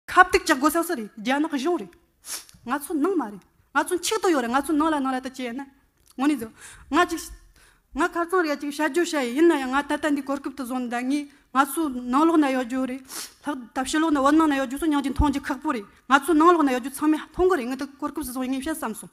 ཁ་བཏུད་ཀྱག་གོ་ས་སུ་རེད་རྒྱ་ནག་གཞུང་རེད། ང་ཚོ་ནང་མ་རེད། ང་ཚོ་མཆིག་ཏུ་ཡོད་རེད་ང་ཚོ་ནང་ལ་ནང་ལ་ད་བྱས་ན་ངོ་ནས་བཟོ། ང་ཅིག། ང་ཁ་རྩང་རེད་ཅིག་བྱ་རྒྱུ་བྱ་ཡི་ཡིན་ན་ཡང་ང་ད་ལྟ་འདི་གོར་སྐབས་དུ་བཟོ་འདང་ངེས་ང་ཚོ་ནང་ལོག་ན་ཡོད་རྒྱུ་རེད། ལྷག་ད་ཕྱི་ལོག་ན་བོད་ནང་ན་ཡོད་རྒྱུ་སོ་མྱང་ཅིག་མཐོང་རྒྱུ་ཁག་པོ་རེད་ང་ཚོ་ནང་ལོག་ན་ཡོད་རྒྱུ་ཚང་མས་མཐོང་གི་རེད་ངས་ད་གོར་སྐབས་སུ་བཟོ་ངེས་བྱ་བསམ་སོང།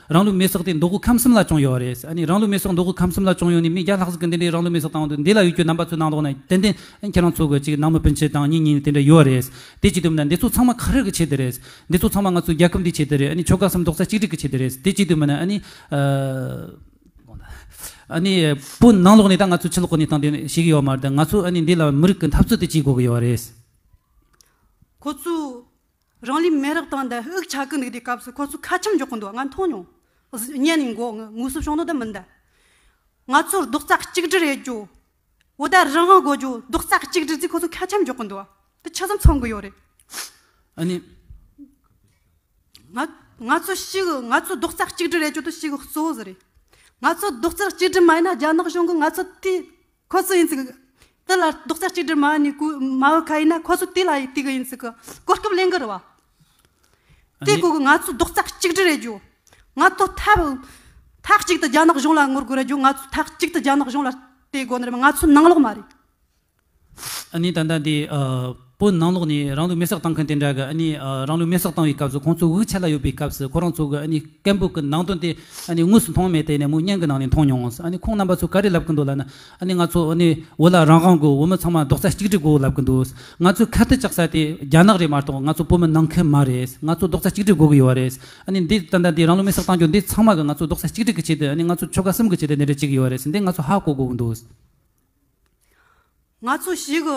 རང་ལུས་མེ་སོགས་ཏེ་མདོ་དགུ་ཁམས་གསུམ་ལ་བྱུང་ཡོད་རེད། ཨ་ནི་རང་ལུས་མེ་སོགས་མདོ་དགུ་ཁམས་གསུམ་ལ་བྱུང་ཡོད་ནི་མི་བརྒྱ་ལྷག་ཟིག་གི་འདི་འདྲའི་རང་ལུས་མེ་སོགས་བཏང་འདུག་འདི་ལ་ཡོད་རྒྱུ་རྣམ་པ་ཚོས་གནང་རོགས་གནང། ཏན་ཏན་ཁྱེད་རང་ཚོ་དགོས་ཅིག་ནང་མི་སྤུན་མཆེད་དང་གཉིས་གཉིས་ནི་དེ་འདྲ་ཡོད་རེད། དེ་གཅིག་དུ་མིན་ན་འདི་ཚོ་ཚང་མ་ག་རེ་གི་ཆེད་དུ་རེད། འདི་ཚོ་ཚང་མ་ང་ཚོའི་རྒྱལ་ཁབ་འདིའི་ཆེད་དུ་རེད་ཨ་ནི་ཆོལ་ཁ་གསུམ་རྡོག་རྩ་གཅིག་སྒྲིལ་གི་ཆེད་དུ་རེད་དེ་གཅིག་དུ་མིན་ན་ཨ་ནི། ཨ་ནི། སྤུན་ནང་ལོགས་ནས་ད་ང་ཚོའི་ཕྱི་ལོགས་ནས་དང་དེ་ནས་ཞིག་ཡོད་མ་རེད་ད་ང་ཚོ་ཨ་ནི་འདི་ལ་མི་རིགས་ཀྱི་འཐབ་རྩོད་དེ་བྱེད་དགོས་གི་ཡོད་རེད། ཁོ་ཚོས། རང་ལུས་མེ་རག་བཏང་འདི་དབུགས་ཆག་གི་འདུག་དེ་སྐབས་སུ་ཁོ་ཚོ་ཁ་ཆེམས་འཇོག་གི་འདུག་ང་མཐོང་མྱོང། བརྙན་ནས་འགོ་ངོས་སུ་བྱུང་འདུག་དེ་མིན་དེ། ང་ཚོ་རྡོག་རྩ་གཅིག་སྒྲིལ་རེད་རྒྱུ། འོ་ད་རང་དབང་དགོས་རྒྱུ་རྡོག་རྩ་གཅིག་སྒྲིལ་རྩིས་ཁོ་ཚོ་ཁ་ཆེམས་འཇོག་གི་འདུག་དེ་ཆ་ཙམ་ཚང་གི་ཡོད་རེད། ཨ་ནི། ང་ཚོ་ཞིག་ང་ཚོ་རྡོག་རྩ་གཅིག་སྒྲིལ་རེད་རྒྱུ་དེ་ཞིག་གཙོ་བོ་ཟེར་རེད། ང་ཚོ་རྡོག་རྩ་གཅིག་སྒྲིལ་མ་ཡིན་ན་རྒྱ་ནག་གཞུང་གིས་ང་ཚོ་དེ་ཁོ་ཚོ་ཡིན་ཙི་གི། དེ་ལ་རྡོག་རྩ་གཅིག་སྒྲིལ་མ་ནི་གུ་མ་ཨུ་ཁ་ཡིན་ན་ཁོ་ཚོ་དེ་ལ་ཡི་དི་གི་ཡིན་ཙི་གི་གོ་སྐབས་ལེན་གི་རེད་བ། དེ་གུ་གི་ང་ཚོ་རྡོག་རྩ་གཅིག་སྒྲིལ་རེད་རྒྱུ། ང་ཚོ་ཐབས་ཐག་གཅིག་ཏུ་རྒྱ་ནག་གཞུང་ལ་ངོ་རྒོལ་རེད་རྒྱུ་ང་ཚོ་ཐག་གཅིག་ཏུ་རྒྱ་ནག་གཞུང་ལ་དེ་དགོ་ནི་རེད་མ་ང་ཚོ་ནང་ལོག་མ་རེད། ཨ་ནི་ད་ལྟ་དེ། པོ་ནང་ལོགས་ནས་རང་ལུས་མེ་སྲེག་བཏང་མཁན་དེ་འདྲ་གི་ཨ་ནི་རང་ལུས་མེ་སྲེག་བཏང་བའི་སྐབས་སུ་ཁོང་ཚོ་དབུགས་ཆད་ལ་ཡོད་པའི་སྐབས་སུ་ཁོ་རང་ཚོ་གི་ཨ་ནི་སྐད་འབོད་ཀི་ནང་དོན་དེ་ཨ་ནི་དངོས་སུ་མཐོང་མེད་དེ་ནས་མོ་བརྙན་གི་ནང་ནས་མཐོང་མྱོང་ཨ་ནི་ཁོང་རྣམ་པ་ཚོ་ག་རེ་ལབ་ཀི་འདུག་ལ་ན་ཨ་ནི་ང་ཚོ་ཨ་ནི་འོ་ལ་རང་དབང་གི་འོ་མི་ཚང་མ་རྡོག་རྩ་གཅིག་སྒྲིལ་དགོས་ལབ་ཀི་འདུག་ང་ཚོའི་ཁ་གཏད་བཅག་ས་དེ་རྒྱ་ནག་རེད་མ་གཏོགས་ང་ཚོ་བོད་མི་ནང་ཁུལ་མ་རེད་ང་ཚོ་རྡོག་རྩ་གཅིག་སྒྲིལ་དགོས་ཀི་ཡོད་བ་རེད་ཨ་ནི་འདི་ལྟ་འདྲ་འདི་རང་ལུས་མེ་སྲེག་བཏང་རྒྱུ་འདི་ཚང་མ་གི་ང་ཚོ་རྡོག་རྩ་གཅིག་སྒྲིལ་གི་ཆེད་དུ་ཨ་ནི་ང་ཚོ་ཆོལ་ཁ་གསུམ་གི་ཆེད་དུ་འདི་འདྲ་བྱེད་ཀི་ཡོད་བ་རེད་འདི་ང་ཚོ་ཧ་གོ་དགོས་ཀི་འདུག། ང་ཚོ་ཞིག་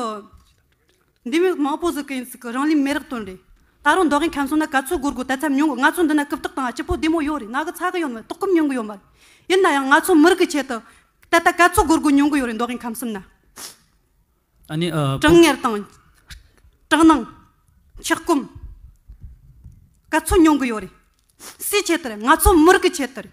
འདི་མི་མང་པོ་ཟིག་གིས་ཟིག་རང་ལུས་མེ་རག་དོན་རེད། ད་རུང་མདོ་དབྱིན་ཁམས་སོང་ན་ག་ཚོད་སྒོར་དགོས་དད་ཚབ་ཉུང་གི་ང་ཚོ་འདི་ན་རྐུབ་སྟེགས་དང་སྤྱི་ཕོ་བདེ་མོ་ཡོད་རེད་ང་གི་ཚ་གི་ཡོད་མ་རེད་ལྟོགས་སྐོམ་ཉུང་གི་ཡོད་མ་རེད། ཡིན་ན་ཡང་ང་ཚོ་མི་རིགས་ཀྱི་ཆེད་དུ་ད་ལྟ་ག་ཚོད་སྒོར་དགོས་ཉུང་གི་ཡོད་རེད་མདོ་དབྱིན་ཁམས་གསུམ་ན། གྲང་ངར་དང། སྐྲག་སྣང། འཁྱག་སྐོམ། ག་ཚོད་ཉུང་གི་ཡོད་རེད། སུའི་ཆེད་དུ་རེད་ང་ཚོ་མི་རིགས་ཀྱི་ཆེད་དུ་རེད།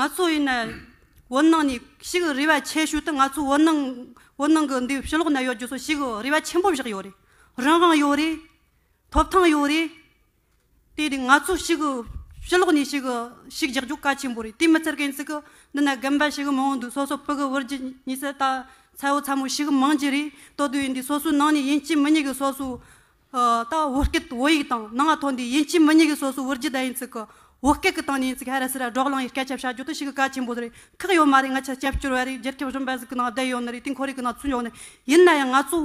ང་ཚོ་ཡིན་ན་བོད་ནང་ནས་ཤི་གི་རེ་བ་ཆེ་ཤོས་དེ་ང་ཚོ་བོད་ནང་བོད་ནང་གི་འདི་ཕྱི་ལོགས་ན་ཡོད་རྒྱུ་ཚོ་ཤི་གི་རེ་བ་ཆེན་པོ་བཞག་ཡོད་རེད་རང་དབང་ཡོད་རེད་ཐོབ་ཐང་ཡོད་རེད། དེ་དེ་ང་ཚོ་ཤི་གི་ཕྱི་ལོགས་ནས་ཤི་གི་ཤིག་རྒྱག་རྒྱུ་གལ་ཆེན་པོ་རེད་དེ་མི་ཚེར་གན་ཚིག་གི་འདི་ན་རྒན་པ་ཤི་གི་མང་བོ་འདུག་སོ་སོ་བོད་གི་བོད་རྒྱུད་ཉི་ཟེར་ལྟ་ཚ་བོ་ཚ་མོ་ཤི་གི་མང་གྱི་རེད་དོ་དུས་ཡིན་དུས་སོ་སོའི་ནང་ནས་ཡིན་གཅིག་མི་གཉིས་གི་སོ་སོའི་ད་བོད་སྐད་བོད་ཡིག་དང་ནང་ང་ཐོ་འདི་ཡིན་གཅིག་མི་གཉིས་ཀྱི་སོ་སོ་བོད་རྒྱུད་བརྡ་ཡིན་ཚིག་གི་བོད་སྐད་ཀྱི་སྟེང་ནས་ཡིན་ཚིག་ཧ་ར་སི་ར་སྒྲོག་ལངས་ཡིན་སྐད་ཆ་བཤད་རྒྱུ་དེ་ཞིག་གི་བཀའ་ཆེན་པོ་རེད་ཁག་ཡོད་མ་རེད་ང་ཆེ་སྐྱབས་བཅོལ་བ་རེད་རྒྱལ་ཁབ་གཞུང་འབད་ཟིག་གི་ནང་བསྡད་ཡོད་ནི་རེད་དེ་འཁོར་ཡིག་གི་ནང་ཚུད་འཇོག་ནི་ཡིན་ན་ཡང་ང་ཚོ་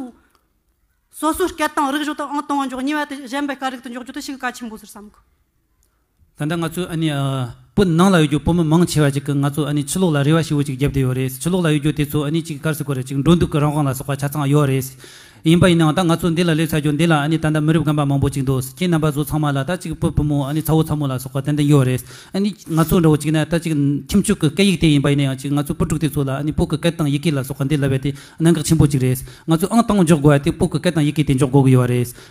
སོ་སོའི་སྐད་དང་རིག་གཞུང་དང་ཨང་དང་བ་འཇོག་ཉེས་བ་དེ་གཞན་པའི་སྐད་རིག་དུ་འཇོག་རྒྱུ་དེ་ཞིག་གི་བཀའ་ཆེན་པོ་ཟེར་བསམ་གི། ད་ལྟ་ང་ཚོའི་ཨ་ནི་པོ་ནང་ལ་ཡོད་རྒྱུ་པོ་མི་མང་ཆེ་བ་ཅིག་གི་ང་ཚོ་ཨ་ནི་ཆུ་ལོག་ལ་རེ་བ་ཞི་བོ་ཅིག་བརྒྱབ་བསྡད་ཡོད་རེད་ཆུ་ལོག་ལ་ཡོད་རྒྱུ་དེ་ཚོ་ཨ་ནི་ཅིག་ཀར་སི་ཀོ་རེད་ཅིག་འགྲོ་འདུག་གི་རང་དབང་ལ་སོགས་པ་ཆ་ཚང་ཡོད་རེད། ཡིན་པ་ཡིན་ནའང་ད་ང་ཚོ་འདི་ལ་སླེབས་ཚར་རྒྱུ་འདི་ལ་ཨ་ནི་ད་ལྟ་མི་རིབས་རྒན་པ་མང་པོ་ཅིག་འདུག་ཁྱེད་རྣམ་པ་ཚོ་ཚང་མ་ལ་ད་ཅིག་པོ་བུ་མོ་ཨ་ནི་ཚ་བོ་ཚ་མོ་ལ་སོགས་པ་ཏན་ཏན་ཡོད་རེད་ཨ་ནི་ང་ཚོ་འདྲ་བོ་ཅིག་ན་ད་ཅིག་ཁྱིམ་ཕྱུག་གི་སྐད་ཡིག་དེ་ཡིན་པ་ཡིན་ན་ཡང་ཅིག་ང་ཚོ་བུ་ཕྲུག་དེ་ཚོ་ལ་ཨ་ནི་པོ་གི་སྐད་དང་ཡི་གེ་ལ་སོགས་པ་འདི་ལབ་པའི་དེ་གནད་འགག་ཆེན་པོ་ཅིག་རེད་ང་ཚོས་ཨང་དང་འཇོག་དགོས་པ་དེ་པོ་གི་སྐད་དང་ཡི་གེ་དེ་འཇོག་དགོས་ཀྱི་ཡོད་རེད།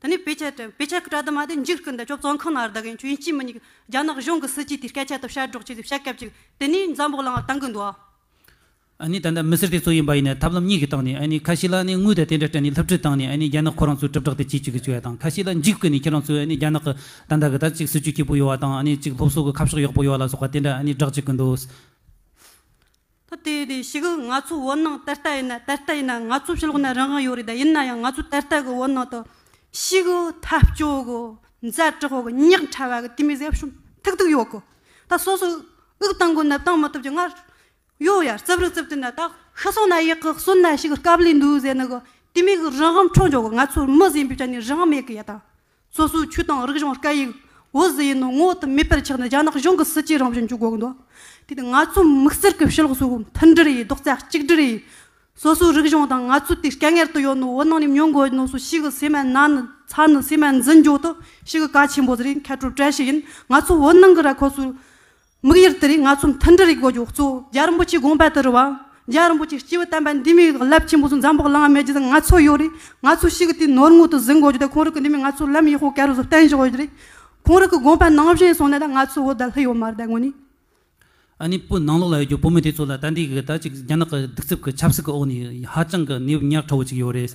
ད་ནི་བེ་ཆད་དྲན་བེ་ཆད་ཀྱི་བཀྲ་དུ་མ་དེ་འཇིགས་སྐུ་འདི་ཅོག་ཙོང་ཁང་ན་རྡ་རྒན་ཆོས་དབྱིངས་སྐྱིད་མི་གཉིས་ཀྱིས་རྒྱ་ནག་གཞུང་གི་སྲིད་ཇུས་དེ་སྐད་ཆ་དེ་བཤད་སྒྲོག་བྱས་ཏེ་བཤད་སྐད་ཅིག་དེ་ནི་འཛམ་བུ་གླང་ལ་བཏང་གི་འདུག་ཨ། ཨ་ནི་ད་ལྟ་མི་སེར་དེ་ཚོ་ཡིན་པ་ཡིན་ནའི་ཐབས་ལམ་གཉིས་ཀྱིས་བཏང་ནས་ཨ་ནི་ཁ་ཤི་ལ་ནི་དངུལ་དེ་དེ་འདྲ་སྤྲད་ནས་ལྷུབ་ཁྲིད་བཏང་ནས་ཨ་ནི་རྒྱ་ནག་ཁོ་རང་ཚོའི་དྲིལ་བསྒྲགས་དེ་བྱེད་ཅིག་གི་བྱོས་དང་ཁ་ཤི་ལ་འཇིགས་སྐུ་ནི་ཁྱེད་རང་ཚོའི་ཨ་ནི་རྒྱ་ནག་གི་ད་ལྟ་གི་ད་ཅིག་སྲིད་ཇུས་སྐྱིད་པོ་ཡོད་བ་དང་ཨ་ནི་ཅིག་སློབ་གསོ་གི་ཁ་ཕྱོགས་ཡག་པོ་ཡོད་ལ་སོགས་པ་དེ་འདྲ་ཨ་ནི་བསྒྲགས་བྱེད་ཀྱི་འདུག། ཐུ་དེ་ཡིན་དེ་ཤི་གི་ང་ཚོ་བོད་ནང་ད་ལྟ་ཡིན་ན་ད་ལྟ་ཡིན་ན་ང་ཚོ་ཕྱི་ལོགས་ན་རང་དབང་ཡོད་རེད་ད་ཡིན་ན་ཡང་ང་ཚོ་ད་ལྟ་གི་བོད་ནང་དུ་ཤི་གི་འཐབ་རྕོད་གི་མཛའ་གྲོགས་གི་ཉག་ཕྲ་བ་གི་དེ་མི་ཟེར་ཤོམ་ཐིག་ཐིག་ཡོད་གི་ད་སོ་སོ་དབུགས་གཏང་གི་ནད་གཏང་མི་ཐུབ་ཀྱི་ང་ཡོད་ཡ་རྩབ་རིག་རྩབ་དེ་ན་ད་ཤི་སོང་ན་ཡག་གི་གསོན་ན་ཤི་གི་སྐབས་ལས་འདུག་ཟེར་ནི་གི་དེ་མི་གི་རང་དབང་འཕྲོག་འཇོག་གི་ང་ཚོ་མི་ཟིན་པའི་ཆ་ནས་རང་དབང་མེད་གི་ཡ་ད་སོ་སོའི་ཆོས་དང་རིག་གཞུང་སྐད་ཡིག་འོད་ཟེར་ཡིན་ནོ་ངོ་བོ་དུ་མེད་པར་ཆགས་ནས་རྒྱ་ནག་གཞུང་གི་སྲིད་ཇུས་རང་བཞིན་འཇུག་དགོས་འདུག་དེ་ནི་ང་ཚོའི་དམིགས་བསལ་གྱི་ཕྱི་ལོགས་སུ་མཐུན་སྒྲིལ་ཡིན་རྡོག་རྩ་གཅིག་སྒྲིལ་ཡིན། སོ་སོའི་རིག་གཞུང་དང་ང་ཚོའི་དུས་སྐལ་ངེར་དུ་ཡོད་ནོ་འོ་ནང་ནས་ཉོ་དགོས་ནོ་སུ་ཞིག་གི་སེམས་ནང་ནས་ཚ་ནི་སེམས་ནས་འཛིན་འཇུག་དུ་ཞིག་གི་བཀའ་ཆེན་པོ་ཟེར་ཡིན་མཁས་གྲུབ་བཀྲ་ཤིས་ཡིན་ང་ཚོ་འོ་ནང་གི་ར་ཁོ་སུ་དམིགས་ཡུལ་དེ་རིགས་ང་ཚོ་མཐུན་སྒྲིལ་རིགས་དགོས་རྒྱུ་གཙོ་བོ་རྒྱ་རིན་པོ་ཆེའི་དགོངས་པ་དེ་རུ་བ། རྒྱ་རིན་པོ་ཆེའི་སྤྱི་བོས་བསྟན་པ་འདི་མིའི་རླབས་ཆེན་པོ་ཚོ་འཛམ་བུ་གླང་མའི་རྗེས་ལ་ང་ཚོ་ཡོད་རིགས་ང་ཚོ་ཞིག་གིས་དེའི་ནོར་དངུལ་དུ་ཟིན་དགོས་རྒྱུ་དེ་ཁོང་རིགས་ཀྱི་འདི་མིན་ང་ཚོ་ལམ་ཡེ་ཤུ་ཀེ་རུ་ཚོ་བསྟན་བཞིན་ཡོད་རིགས་ཁོང་རིགས་ཀྱི་དགོངས་པ་ནང་བཞིན་སོང་ན་ད་ང་ཚོ་བོད་ད་ལྷི་ཡོད་མ་རེད་ད་དངོས་ནས། ཨ་ནེ་བོད་ནང་ལོགས་ལ་ཡོད་རྒྱུ་བོད་མི་དེ་ཚོ་ལ་ད་འདི་གི་ད་ཅིག་རྒྱ་ནག་གི་སྡིག་རྩུབ་ཀྱི་ཆབ་སྲིད་ཀྱི་འོག་ནས་ཧ་ཅང་གི་གནས་བབ་ཉག་ཕྲ་བོ་ཅིག་ཡོད་རེད།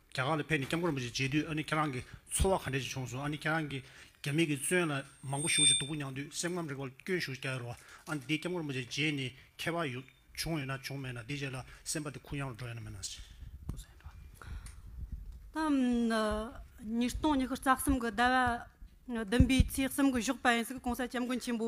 རྒྱ་གར་ལ་ཕེབས་ནས་སྐྱབས་མགོན་རིན་པོ་ཆེ་མཇལ་དུས་ཨ་ནི་ཁྱེད་རང་གི་འཚོ་བ་ག་འདྲས་ཅིག་བྱུང་སོང་ཨ་ནི་ཁྱེད་རང་གིས་རྒྱ་མི་གི་བཙོན་ལ་མང་པོ་ཞུགས་ཅིག་སྡུག་པོ་མྱངས་དུས་སེམས་ཁམས་རིག་པ་སྐྱོན་ཞུགས་རྒྱག་ཡོད་རོ་ཨ་ནི་འདིས་སྐྱབས་མགོན་རིན་པོ་ཆེ་མཇལ་ནས་ཁྱད་པར་བྱུང་ཡོད་ན་བྱུང་མེད་ན་འདིས་བྱས་ལ་སེམས་པ་དེ་ཁུར་ཡང་རུ་འགྲོ་ཡོད་ན་མེད་ན་ཟེར། ཉིས་སྟོང་ཉི་ཤུ་རྩ་གསུམ་གྱི་ཟླ་བ་བདུན་པའི་ཚེས་གསུམ་གྱི་ཞོགས་པ་ཡིན་སྲིད་གོང་ས་སྐྱབས་མགོན་ཆེན་པོ་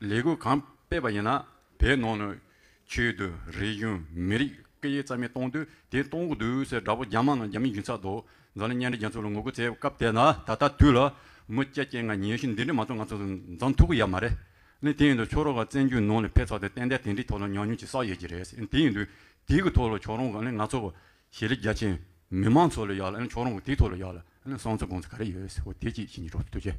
ལས་འགུལ་གང་སྤེལ་བ་ཡིན་ན་དེའི་ནང་ནས་ཆོས་དུས་རེ་བཞིན་མི་རིགས་སྐད་ཡིག་རྩ་མེད་གཏོང་དུས་དེ་གཏོང་གི་འདུག་ཟེར་དགྲ་བོ་རྒྱ་དམག་ནང་རྒྱ་མི་འཇིག་ཚར་འདུག་འཛམ་གླིང་གཉན་རི་རྒྱ་མཚོ་ལ་ངོ་རྒོལ་བྱས་སྐབས་དེ་ན་ད་ལྟ་དུས་ལ་མུ་སྐྱ་སྐྱེ་ང་ཉེ་ཞིང་འདི་འདྲའི་མ་ཚོ་ང་ཚོ་འཛམ་ཐུག་གི་ཡ་མ་རེད་ནི་དེ་ཡིན་དུས་ཕྱོགས་རོགས་ཀ་བཙན་རྒྱུད་ནང་ནས་ཕེབས་ཚར་དུས་ཏན་ཏན་དེ་འདྲའི་ཐོག་ལ་ཉམས་མྱོང་ཅིག་བསགས་ཡོད་ཀྱི་རེད་ཟེར་དེ་ཡིན་དུས་དེའི་གི་ཐོག་ལ་ཕྱོགས་རོགས་ཀ་ནི་ང་ཚོ་ཤེས་རིག་རྒྱ་ཆེན། མི་མང་ཚོ་ལ་ཡག་ལ་ཕྱོགས་རང་གི་དེའི་ཐོག་ལ་ཡག་ལ་གསང་ཚུལ་དགོངས་ཚུལ་ག་རེ་ཡོད་ཟེར་བ་དེ་གཅིག་བྱིན་གྱིས་རློབས་ཐུགས་རྗེ།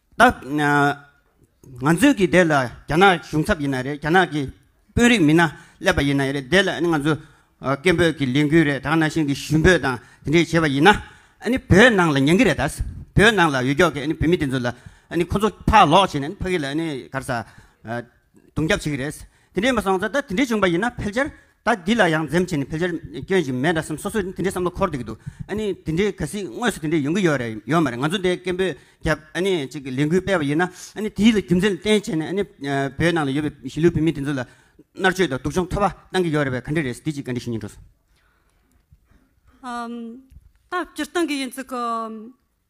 ད། ང་ཚོས་ཀྱི་དེ་ལ་རྒྱ་ནག་གཞུང་ཚབ་ཡིན་ན་རེད་རྒྱ་ནག་གི་དཔོན་རིགས་མིན་ན་སླེབས་པ་ཡིན་ན་རེད་དེ་ལ་ང་ཚོས་སྐད་འབོད་ཀྱི་ལས་འགུལ་རེ་དང་ནང་བཞིན་གྱི་ཞུ་འབོད་དང་དེ་འདྲས་བྱས་པ་ཡིན་ན། བོད་ནང་ལ་ཉན་གྱི་རེད་ད། བོད་ནང་ལ་ཡོད་ཀྱོག་གི་བོད་མི་དེ་ཚོ་ལ་ཁོ་ཚོ་ཕར་ལོག་བྱས་ནས་ཕ་གི་ལ་གར་ས་རྡུང་རྒྱབ་བྱེད་ཀྱི་རེད། དེ་འདྲས་མ་སོང་ད་དེ་འདྲས་བྱུང་པ་ཡིན་ན་ཕལ་ཆེར་ད་འདི་ལ་ཡང་འཛེམ་བྱས་ནས་ཕལ་ཆེར་སྐྱོན་ཞིག་མེད་འདྲ་སེམས་སོ་སོས་དེ་འདྲའི་བསམ་བློ་འཁོར་སྡོད་ཀྱི་འདུག་ཨ་ནི་དེ་འདྲའི་ག་སྲིད་དངོས་སུ་དེ་འདྲའི་ཡོང་གི་ཡོད་རེད་ཡོད་མ་རེད་ང་ཚོ་འདི་སྐད་འབོད་རྒྱབ་ཨ་ནི་ཅིག་གི་ལས་འགུལ་སྤེལ་བ་ཡིན་ན་ཨ་ནི་དེའི་ལ་རྒྱུ་མཚན་ལ་བརྟེན་བྱས་ནས་ཨ་ནི་བོད་ནང་ལ་ཡོད་པའི་གཞིས་ལུས་བོད་མི་དེ་ཚོ་ལ་མནར་གཅོད་དང་སྡུག་སྦྱོང་ཐོབ་པ་གཏང་གི་ཡོད་རེད་བས་ག་འདྲ་རེད་འདི་ཅིག་ག་འདྲའི་ཞུ་སྙིང་འགྲོ་སོང། ད་སྤྱིར་བཏང་གི་ཡིན་ཙི་གི།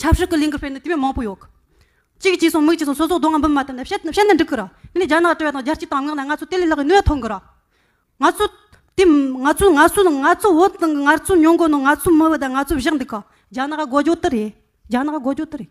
ཆབ་སྲིད་ཀྱི་ལས་འགུལ་སྤེལ་ནི་དེ་བས་མང་པོ་ཡོད། གཅིག་གཅིག་སོང་མིག་གཅིག་སོང་སོ་སོ་སྡོད་ང་འབུམ་མ་ཐོན་ནས་བཤད་ནི་འགྲིག་གི་ར། དེ་ནས་རྒྱ་ནག་དྲོ་བ་དང་རྒྱལ་སྤྱིའི་དམ་ངག་ནས་ང་ཚོ་དེ་ལས་ལྷག་གི་གནོད་ཐོན་གི་ར། ང་ཚོ། དེ། ང་ཚོ་ང་ཚོ་ང་ཚོ་འོད་དང་ངར་ཚོ་ཉོན་གོ་ནོ་ང་ཚོ་མི་འོད་ད་ང་ཚོ་བཞག་འདུག་ག་རྒྱ་ནག་ག་གོ་རྒྱོ་ཏི་རེད་རྒྱ་ནག་ག་གོ་རྒྱོ་ཏི་རེད།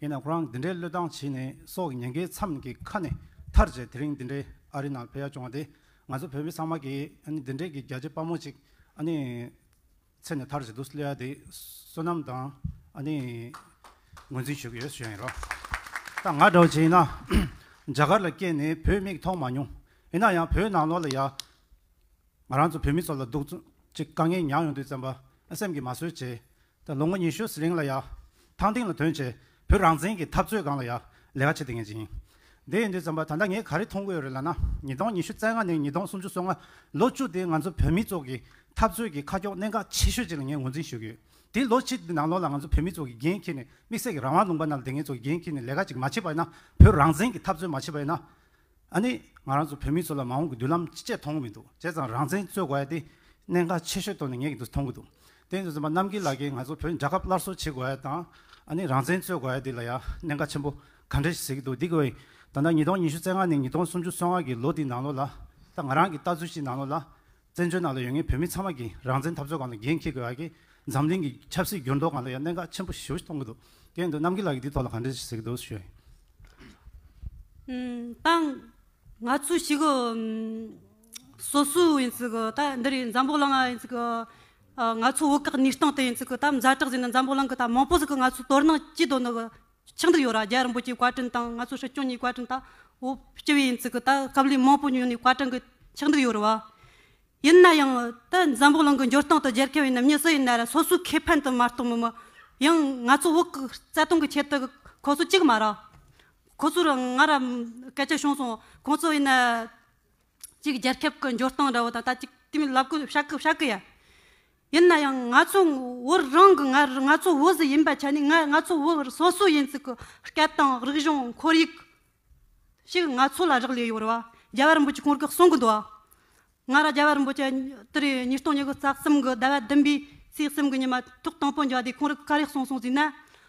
ཡིན་ནའང་ཁོ་རང་འདི་འདྲའི་བློས་བཏང་བྱས་ནས་སྲོག་གི་ཉེན་ཁའི་མཚམས་ཀྱི་ཁ་ནས་ཐར་རྗེས་དེ་རིང་འདི་འདྲའི་ཨ་རི་ནང་ཕེབས་ཡ་བྱུང་བ་དེས་ང་ཚོ་བོད་མི་ཚང་མ་གིས་ཨ་ནི་འདི་འདྲའི་གི་རྒྱལ་གཅེས་དཔའ་མོ་ཅིག་ཨ་ནི་འཚེ་ནས་ཐར་བྱེད་དུ་སླེབས་ཡ་དེ་བསོད་ནམས་དང་ཨ་ནི་ངོས་འཛིན་ཞུ་གི་ཡོད་ཞུ་ཡ་ཡིན་རོ། ད་ང་འདྲ་བོ་བྱས་ན་རྒྱ་གར་ལ་སྐྱེས་ནས་བོད་མིག་མཐོང་མ་མྱོང་ཡིན་ན་ཡང་བོད་ནང་ལོགས་ལ་ཡ། ང་རང་ཚོ་བོད་མི་ཚོ་ལ་སྡུག་རྩུབ་ཀྱི་དཀའ་ངལ་མྱངས་ཡོང་དུས་བཙན་པ་སེམས་ཀྱིས་མ་བཟོད་ཆེ། ད་ལོ་ངོ་ཉི་ཤུ་ཟི་ལིང་ལ་ཡ། ཐང་ཏིང་ལ་དོན་བྱས། བོད་རང་བཙན་གྱི་འཐབ་རྩོད་སྒང་ལ་ཡ། ལས་ཀ་བྱེད་དེ་ངེས་ཅན་ཡིན། དེ་ཡིན་དུས་བཙན་པ་ད་ལྟ་ངས་ག་རེ་མཐོང་གི་ཡོད་རེད་ལ་ན། ཉིས་སྟོང་ཉི་ཤུ་རྩེ་ལྔ་ནས་ཉིས་སྟོང་སུམ་ཅུ་སོ་ལྔ། ལོ་བཅུ་དེ་ང་ཚོ་བོད་མི་ཚོ་གི་འཐབ་རྩོད་ཀྱི་ཁ་ཁྱོག་གནད་འགག་ཆེ་ཤོས་ཅིག་ལ་ངས་ངོས་འཛིན་ཞུ་གི་ཡོད། དེ་ལོ་གཅིག་གི་ནང་ལོགས་ལ་ང་ཚོ་བོད་མི་ཚོ་གི་འགན་འཁྱེར་ནས་དམིགས་བསལ་གྱི་རང་དབང་ལུང་པ་ནང་ལ་དེ་ངེད་ཚོ་གི་འགན་འཁྱེར་ནས་ལས་ཀ་ཅིག་མ་བྱས་པ་ཡིན་ན། བོད་རང་བཙན་གྱི་འཐབ་རྩོད་མ་བྱས་པ་ཡིན་ན། ཨ་ནི། ང་རང་ཚོ་བོད་མི་ཚོ་ལ་མ་འོངས་ཀྱི་མདུན་ལམ་ཅི་བྱས་མཐོང་གི་མི་འདུག་བྱས་ཙང་རང་བཙན་རྩོད་དགོས་ཡ་དེ་གནད་འགག་ཆེ་ཤོས་ཐོག་ནས་ངེས་ཀྱི་འདུག་མཐོང་གི་འདུག་དེ་ནས་བཟུང་པ་རྣམ་རྒྱལ་ལགས་ཀྱིས་ང་ཚོ་བོད་རྒྱལ་ཁབ་སླར་གསོ་བྱེད་དགོས་ཡ་དང་ཨ་ནི་རང་བཙན་རྩོད་དགོས་ཡ་དེ་ལ་ཡ་གནད་འགག་ཆེན་པོ་ག་འདྲ་ཞིག་ཟེར་གྱི་འདུག་འདི་གོ་ཨེ་ད་ལྟ་ཉིས་སྟོང་ཉི་ཤུ་རྩེ་ལྔ་ནས་ཉིས་སྟོང་སུམ་ཅུ་སོ་ལྔ་གྱི་ལོ་དེའི་ནང་ལོ་ལ་ད་ང་རང་གྱི་ལྟ་ཚུལ་ཅིག་ནང་ལོ་ལ་བཙན་བྱོལ་ནང་དུ་ཡོད་ངེས་བོད་མི་ཚང་མ་གིས་རང་བཙན་འཐབ་རྩོད་གང་དུ་འགན་འཁྱེར་དགོས་ཡག་གི་འཛམ་གླིང་གི་ཆབ་སྲིད་འགྱུར་ལྡོག་གང་དུ་ཡང་གནད་འགག་ཆེན་པོ་ཞུ་གཏོང་གི་འདུག་གལ་འདུག་རྣམ་རྒྱལ་ལགས་ཀྱིས་འདི་ཐོག་ལ་གང་འདྲི་ཟེར་གི་འདུག་ཞུ། ཏང། ང་ཚོ་ཞིག་གི་སོ་སོའི་ཡིན་ཚུལ་གི་ད་འདི་རུ་འཛམ་བུ་གླིང་ཡིན་ཚུལ་གི་ང་ཚོ་བོད་སྐད་ནུས་སྟངས་དེ་ཡིན་ཚུལ་གི་ད་མཛའ་གྲགས་ཅན་ནི་འཛམ་བུ་གླིང་གི་ད་མང་པོ་ཞིག་གི་ང་ཚོ་དོ་སྣང་སྐྱིད་དོ་ནུ་གི་ཆགས་འདི་ཡོད་ར་རྒྱ་རིན་པོ་ཆེའི་བཀའ་དྲིན་དང་ང་ཚོ་ཧྲི་སྐྱོང་གཉིས་བཀའ་དྲིན་དང་བོ་སྐྱིད་པའི་ཡིན་ཚིག་གི་ད་སྐབས་ལས་མང་པོ་ཉོས་ནས་བཀའ་དྲིན་གི་ཆགས་འདི་ཡོད་ར་བ། ཡིན་ན་ཡང་ད་འཛམ་བུ་གླིང་གི་འགྱུར་སྟངས་དང་རྒྱལ་ཁབ་ཡིན་ནམ་མྱི་སུ་ཡིན་ན་ར་སོ་སོའི་ཁེ་ཕན་དུ་མ་གཏོང་མི་མི་ཡང་ང་ཚོ་བོད་གི་རྩ་དོན་གི་ཆེད་དུ་ཁོ་ཚོ་གཅིག་མ་ར་ཁོ་ཚོ་ར་ང་ར་སྐད་ཆ་བྱུང་སོང་ཁོ་ཚོ་ཡིན་ན། གཅིག་རྒྱལ་ཁབ་ཀྱི་འབྱོར་སྟངས་འདྲ་བོ་དང་ད་ཅིག་དེ་མིན་ལབ་གོ་བཤགས་གོ་བཤགས་གོ་ཡ། ཡིན་ན་ཡང་ང་ཚོ་བོད་རང་གི་ང་རང་ང་ཚོ་བོད་ཟི་ཡིན་པ་ཆ་ནས་ང་ང་ཚོ་བོད་སོ་སོ་ཡིན་ཚུལ་གྱི་སྐད་དང་རིག་གཞུང་ཁོར་ཡུག་ཞིག་ང་ཚོ་ལ་རག་ལས་ཡོད་རེད་བ། རྒྱ་བལ་འབུད་ཀྱི་གོང་རྒག་གསུང་གི་འདུག་བ། ང་ར་རྒྱ་བལ་འབུད་ཀྱི་དུ་རའི་ཉིས་སྟོང་ཉི་དགུ་རྩ་གསུམ་གྱི་ཟླ་བ་བདུན་པའི་ཚེས་གསུམ་གྱི་ཉི་མ་ཐུག་དང་པོ་འཇོག་དེ་གོང་རག་ག་རེ་གསུང་གསུང་ཟིན་ན།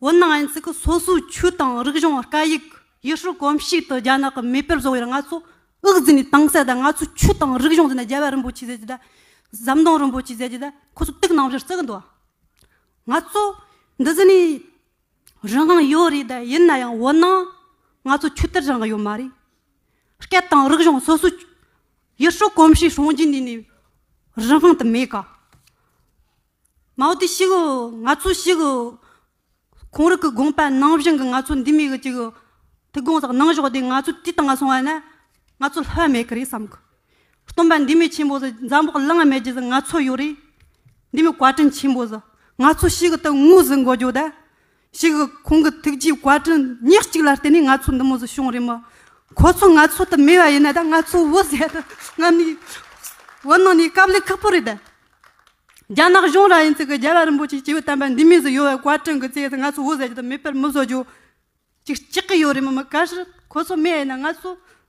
འོ་ན་ཨན་ཙི་ཀི་སོ་སོའི་ཆོས་དང་རིག་གཞུང་བཀའ་ཡིག་ཡེ་ཤུ་གོམས་གཤིས་དང་རྒྱ་ནག་གི་མེས་པོས་བཟོ་བའི་ང་ཚོ་དབུགས་འཛིན་ནས་དྭངས་གསལ་དང་ང་ཚོའི་ཆོས་དང་རིག་གཞུང་འཛིན་ན་རྒྱལ་བ་རིན་པོ་ཆེ་ཟེར་གྱི་དང་ཟམ་གདོང་རིན་པོ་ཆེ་ཟེར་གྱི་དང་ཁོ་ཚོ་དུག་ནང་བཞིན་བརྩི་གི་འདུག་ང་ཚོ་འདི་ཟི་ནས་རང་དབང་ཡོད་རེད་ད་ཡིན་ན་ཡང་འོ་ན་ང་ཚོ་ཆོས་དད་རང་གི་ཡོད་མ་རེད་སྐད་དང་རིག་གཞུང་སོ་སོའི་ཡེ་ཤུ་གོམས་གཤིས་སྲུང་བརྒྱུད་འདི་ནས་རང་དབང་དུ་མེད་ག། མའོ་ཏི་ཤི་གི། ང་ཚོ་ཤི་གི། ཁོང་རིགས་ཀྱི་དགོངས་པ་ནང་བཞིན་གྱི་ང་ཚོ་འདི་མེད་གི་ཅིག་གི། དེ་དགོངས་དག་ནང་བཞག་དེ་ང་ཚོ་དེ་དང་སོང་བ་ན། ང་ཚོ་ལྷོད་མེད་གི་རེད་བསམ་གི། སྟོན་པ་འདི་མི་ཆེན་པོ་ཟེར་འཛམ་བུ་གླང་མེད་རྗེས་ང་ཚོ་ཡོད་རེད། འདི་མི་བཀའ་དྲིན་ཆེན་པོ་ཟེར་ང་ཚོ་ཤི་གི་ཏུ་ངུ་ཟིག་འགོ་རྒྱོ་ད། ཞིག་གི་ཁོང་གི་ཐུགས་རྗེའི་བཀའ་དྲིན་ཉག་གཅིག་ལ་བརྟེན་ནས་ང་ཚོ་འདི་མོ་བཟོ་བྱུང་རེད་མོད། ཁོ་ཚོ་ང་ཚོ་ལྟར་མེད་པ་ཡིན་ན་ད་ང་ཚོ་བོད་ཟས་དང་རྔམ་ནས་བོད་ནང་ནས་སྐབས་ལེགས་ཁག་པོ་རེད་ད། རྒྱ་ནག་གཞུང་ར་ཡིན་ཚིག་གི་རྒྱལ་བ་རིན་པོ་ཆེ་སྐྱེས་བུ་དམ་པ་འདི་མོས་བཟོ་ཡོད་བའི་བཀའ་དྲིན་གི་ཚེ་ད་ང་ཚོ་བོད་ཟས་ཀྱི་ད་མེད་པར་མོ་བཟོ་རྒྱུ་ཅིག་ཅིག་གི་ཡོད་རེད་མོད་མི་ག་ཤི་ཁོ་ཚོ་མེད་ཡིན་ན་ང་ཚོ་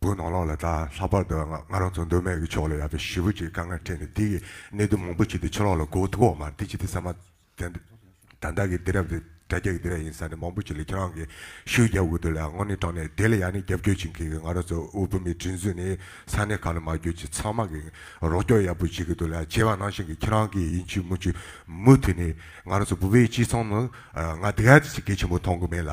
བུ་ནོར་ལོག་ལ་དྭགས་ལྷག་པར་དུ་ང་རང་ཚོ་མདོ་སྨད་ཀྱི་ཕྱོགས་ལ་ཡག་པའི་ཞི་བུ་ཅིག་དཀའ་ངལ་འཕྲད་ནས་འདི་ཡི་གནད་དོན་མང་པོ་ཅིག་དེ་ཕྱི་ལོག་ལ་གོ་ཐུག་འོག་མར་འདི་ཅི་སྟེ་ས་མ། དྭགས་དྭགས་ཀྱི་སྡེ་རབས་དེ་དགྲ་རྒྱ་ཀྱི་སྡེ་ར་ཡིན་ས་ནི་མང་པོ་ཅིག་ལ་ཁྱེད་རང་གིས་ཤུལ་རྒྱབ་དགོས་འདུག་ལ་དངོས་གནས་དྲང་གནས་དེ་ལ་ཡང་ནི་རྒྱབ་སྐྱོར་བྱེད་མཁན་གྱི་ང་རང་ཚོ་དབུལ་པོ་མི་དྲིན་གཟུགས་ནི་ས་གནས་གང་ལ་མ་གྱུར་ཅིག་ཚང་མ་གིས་རོགས་སྐྱོར་ཡག་པོ་བྱེད་ཀྱི་འདུག་ལ་བྱས་པ་ནང་བཞིན་གྱི་ཁྱེད་རང་གིས་ཡིན་ཆུ་མུ་ཆུ་མུ་མཐུད་ནས་ང་རང་ཚོ་བུ་བའི་སྤྱི་ཚོགས་ནང་ང་དེ་ག་ཅིག་གལ་ཆེན་པོ་མཐོང་གི་མེད་ལ།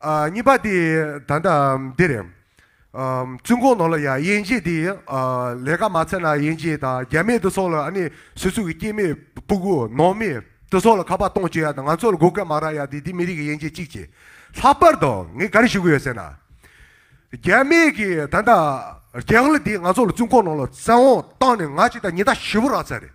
གཉིས་པ་དེ་ད་ལྟ་འདི་རེད། བཙུན་གོང་ནང་ལ་ཡ་དབྱེན་འབྱེད་དེ་ལས་ཀ་མ་ཚར་ན་དབྱེན་འབྱེད་དང་རྒྱ་མེད་དུ་སོགས་ལ་ཨ་ནི་སོ་སོ་གི་སྐྱེས་མེད་སྤུ་གུ་ནང་མི་དུ་སོགས་ལ་ཁ་པར་གཏོང་བྱེད་ཡ་དང་ང་ཚོ་ལ་སྒོ་ཀ་མ་རག་ཡ་དེ་དེ་མི་རིགས་ཀྱི་དབྱེན་འབྱེད་གཅིག་བྱེད། ལྷག་པར་དུ་ངས་ག་རེ་ཞུ་གི་ཡོད་ཟེར་ན། རྒྱ་མེད་ཀྱི་ད་ལྟ་རྒྱ་གླུ་དེ་ང་ཚོ་ལ་བཙུན་གོང་ནང་ལ་བཙན་འོག་བཏང་ནས་ང་ཅིག་དང་ཉི་ཟླ་བཞི་བོ་རག་ཚར་རེད།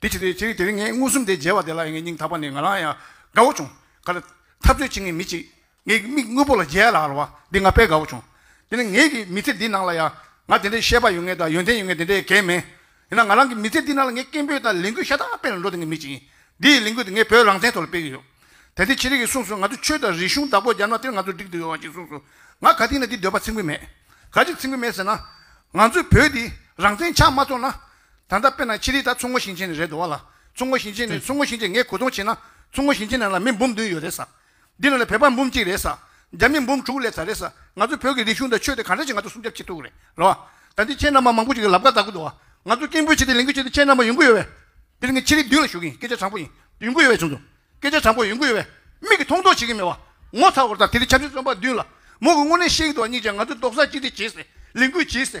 དེ་ཅི་སྟེ་ཅི་རིགས་དེ་རིགས་ངས་མངོན་སུམ་དེ་མཇལ་བ་དེ་ལ་ཡང་ངའི་སྙིང་ཐག་པ་ནས་ང་རང་ཡང་དགའ་བོ་བྱུང། ག་ལ། འཐབ་རྩོད་བྱེད་མཁན་མི་གཅིག་ངའི་མིག་དངོས་པོ་ལ་མཇལ་ཡ་ལ་ལ་བ་འདི་ང་དཔེ་དགའ་བོ་བྱུང། དེ་ནི་ངེད་ཀྱི་མི་ཚེ་འདི་ནང་ལ་ཡང་ང་དེ་འདྲའི་ཤེས་པ་ཡོད་ངེས་དང་ཡོན་ཏན་ཡོད་ངེས་དེ་འདྲའི་གལ་མིན། ཡིན་ན་ང་རང་གི་མི་ཚེ་འདི་ནང་ལ་ངས་སྐད་འབོད་དང་ལས་འགུལ་ཤ་སྟག་སྤེལ་ནས་འགྲོ་དེ་ངའི་མི་གཅིག་ཡིན། འདི་ཡི་ལས་འགུལ་དེ་ངས་བོད་རང་བཙན་ཐོག་ལ་སྤེལ་གྱི་ཡོད། དེ་འདི་ཅི་རིགས་ཀྱིས་གསུངས་སོང་ང་ཚོས་ཆོས་དང་རིག་གཞུང་བདག་པོ་རྒྱབ་ན་དེར་ང་ཚོ་འགྲིག་ཏུ་ཡོད་བ་ཅིག་གསུངས་སོང། ང་ག་དུས་ནས་འདི་འདོད་པ་ཚིག་འགུལ་མེད། ག་ཅིག་ཚིག་འགུལ་མེད་ཟེར་ན། ང་ཚོས་བོད་འདི་རང་བཙན་ཆགས་མ་ཚོར་ན། ད་ལྟ་དཔེར་ན་ཕྱི་རིགས་དག་མཚོ་སྔོན་ཞིང་ཆེན་ནས་རེད་འགྲོ་བ་ལ། མཚོ་སྔོན་ཞིང་ཆེན་ནས་མཚོ་སྔོན་ཞིང་ཆེན་ངས་གོ་མཐོང་བྱས་ན། མཚོ་སྔོན་ཞིང་ཆེན་ནང་ལ་མི་འབུམ་བདུན་ཡོད་རེད་ས། འདི་ནང་ལ་བོད་པ་འབུམ་གཅིག་རེད་ས། རྒྱ་མི་འབུམ་དྲུག་སླེབས་ས་རེད་ས། ང་ཚོ་བོད་ཀྱི་རིག་གཞུང་དང་ཆོས་དེ་ག་འདྲ་ཞིག་ང་ཚོ་སྲུང་སྐྱབས་བྱེད་ཐུབ་ཀྱི་རེད་རོ། ད་འདི་ཁྱེད་རྣམས་པ་མང་པོ་ཞིག་གི་ལབ་ཀ་བཟའ་དགོས་འདུག་བ། ང་ཚོ་སྐད་འབོད་བྱེད་དེ་ལས་འགུལ་བྱེད་དེ་ཁྱེད་རྣམས་པ་ཡོང་གི་ཡོད་བས། འདིར་ངས་ཕྱི་རིགས་བདུན་ལ་ཞུ་གི་ཡིན་སྐད་ཆ་དྲང་པོ་ཡིན། ཡོང་གི་ཡོད་བས་བྱུང་འདུག་སྐད་ཆ་དྲང་པོ་ཡོང་གི་ཡོད་བས། མིག་གིས་མཐོང་མཐོང་བྱེད་ཀྱི་མེད་བ། ངོ་ཚ་བོར་དང་དེ་རིང་ཆབ་སྲིད་བཙོན་པ་བདུན་ལ། མོ་གི་དངོས་གནས་ཤེས་ཀྱི་འདུག་བ་གཉིས་ཀྱང་ང་ཚོས་རྡོག་རྩ་གཅིག་སྒྲིལ་བྱས་སའི་ལས་འགུལ་བྱས་སའི།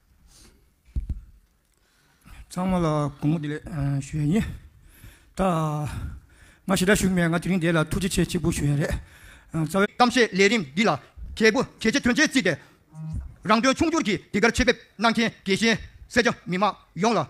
ཚང་མ་ལ་དགོངས་བརྒྱ་ཞུ་ཡ་ཡིན། ད་ང་ཞེ་དྲག་ཞུགས་མེད་ང་དེ་རིང་འདས་ལ་ཐུགས་རྗེ་ཆེ་གཅིག་པུ་ཞུ་ཡ་རེད་རྩ་བའི། གཏམ་བཤད་ལས་རིམ་འདི་ལ་གལ་སྒོ་གལ་ཆེ་དོན་ཆེན་བརྩིས་ཏེ། རང་དོན་ཕྱུག་འགྱུར་གྱིས་དེ་གར་ཆེད་ཕེབས་གནང་མཁན་དགེ་བཤེས་སེར་སྐྱ་མི་མང་ཡོངས་ལ།